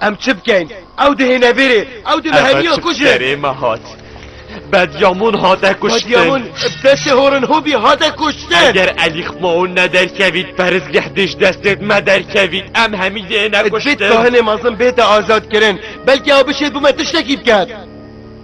Em çi bikeyn? Ew dihêne vêrê. Ew di meheniya kujin. Ev çi me hat? Bedyamun hate kuştin. Bedyamun bi destê Horin Hobî hate kuştin. Eger Elî Xmaun nederkevît perizgeh dê ji destê me derkevît. Em hemî dihêne kuştin. Divê kahinê mezin bête azadkirin. Belkî ew bişêt bi me tiştekî biket.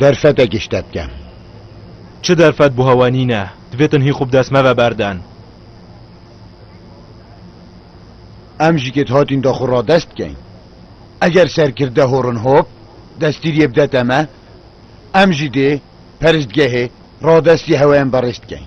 Derfetekî ji te bike. Çi derfet buha we nîne. Divê tinhî xwe bi dest me ve berdin. Em ji kêt hatîn da xwe radest bikeyn. Eger serkirde Horin Hop destîriyê bidete me, em jî dê peristgehê radestî hewe yên berêz bikeyn.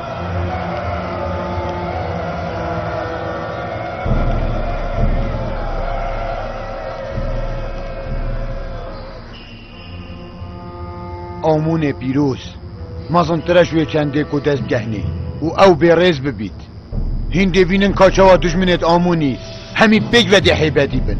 Amonê pîroz, mezin tire ji wê çendê ku dest gehnê û ew bêrêz bibît. Hîn dê bînin ka çawa dijminê di Amonî hemî pêk vedê heybetî bin.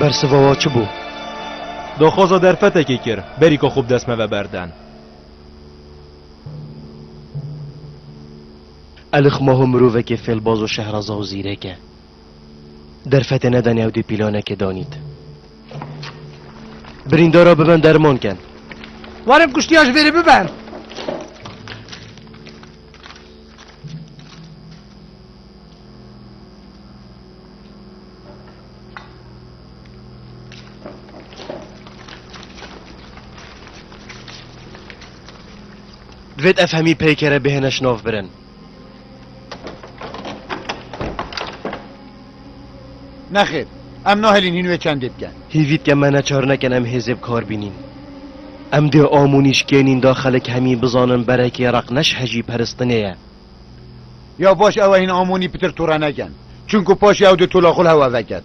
Bersiva wa çi bû? Daxwaza derfetekê kir, berî ka xwe bi dest me ve berden. Elixmaho mirovekê fêlbaz û şehraza û zîrêk e. Derfetê neda newdî pîlanekê danît. Birîndara biben derman ken. Warin kuştiya ji vêrê biben. Divêt ev hemî peykere bihêne şinavbirin. Nexêr, em nahelîn hîn wê çendê biken. Hîvît ke me neçar nekin em hêzê bi kar bînîn. Em dê am û nîşkênîn da xelk hemî bizanin berekê req ne şhejî peristinê ye. Ya baş ew e hîn am û nî pitir tûre nekin. Çunku paşê ew di tûla xwe li hev veket.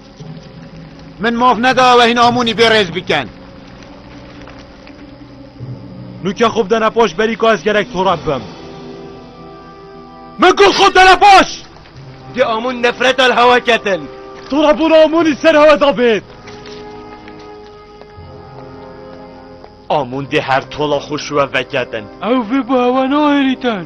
Min maf neda ew hîn amûnî bê rêz bikin. Nûke xwe bidene paş berî ka ez gelek torab bim. Min got xwe dene paş! Di amûn nefreta li hewa ketin. Torabûna amûnî ser hewa da bêt. Amûn dê her tola xwe şiwe veketin. Ew vê bi hewa nahêlîtin.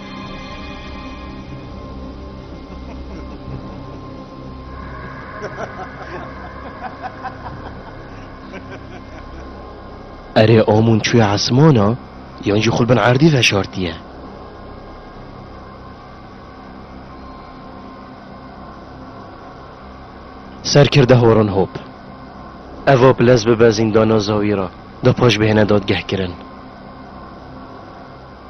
Erê amûn çûye esmana yan jî xwe li bin erdî veşartiye. Serkirde horan hop. Ev hop lez bibe zîndana Zawîra, di paş bihêne dadgehkirin.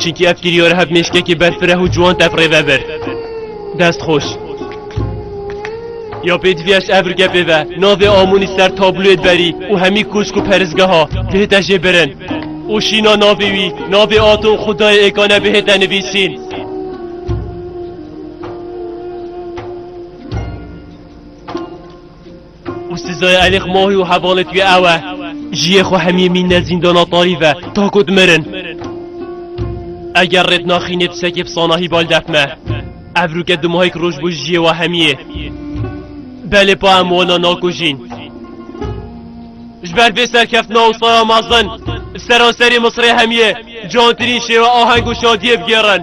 Çinkî ev kîrîyo re heb mêşkekî berfireh û ciwan tev rêve bir. Dest xweş. Ya pêdivî ez ev rike pê ve. Navê Amonî ser tabloyê berî û hemî koşk û perizgeha bihête jê birin. Û şîna navê wî, navê ata û xwedayê êkane bihête nivîsîn. û sizaya Elîx Mohî û hevalê tûyê ew e jiyê xwe hemiyê mînne zîndana tarî ve ta ku dimirin. Eger rê dinaxînê tu sekê bi sanahî bal defme. Ev rûke du mahêk roj bû ji jiyê we hemiyê. Belê pa em wana nakujîn. Ji ber vê serkeftina û sara mezin li seranserê Misirê hemiyê cantirîn şêwe aheng û şadiyê bigêrin.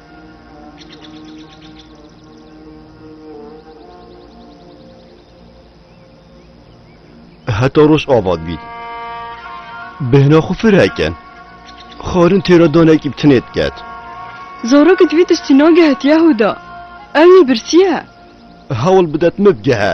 heta roj avad bî. Bêhna xwe fireke. Xarin têra danekî bi tinê diket. Zorok di vî tiştî nagehe tiya hûda. Ew yê birsiye. Hewl bidet min bgehe.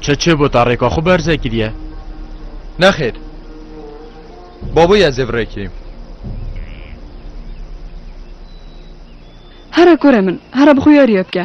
Çi çi bû ta rêka xwe berze kiriye? Nexêr. Baboyê ez ê virekirîm. Here kore min, here bi xwe yarîye bike.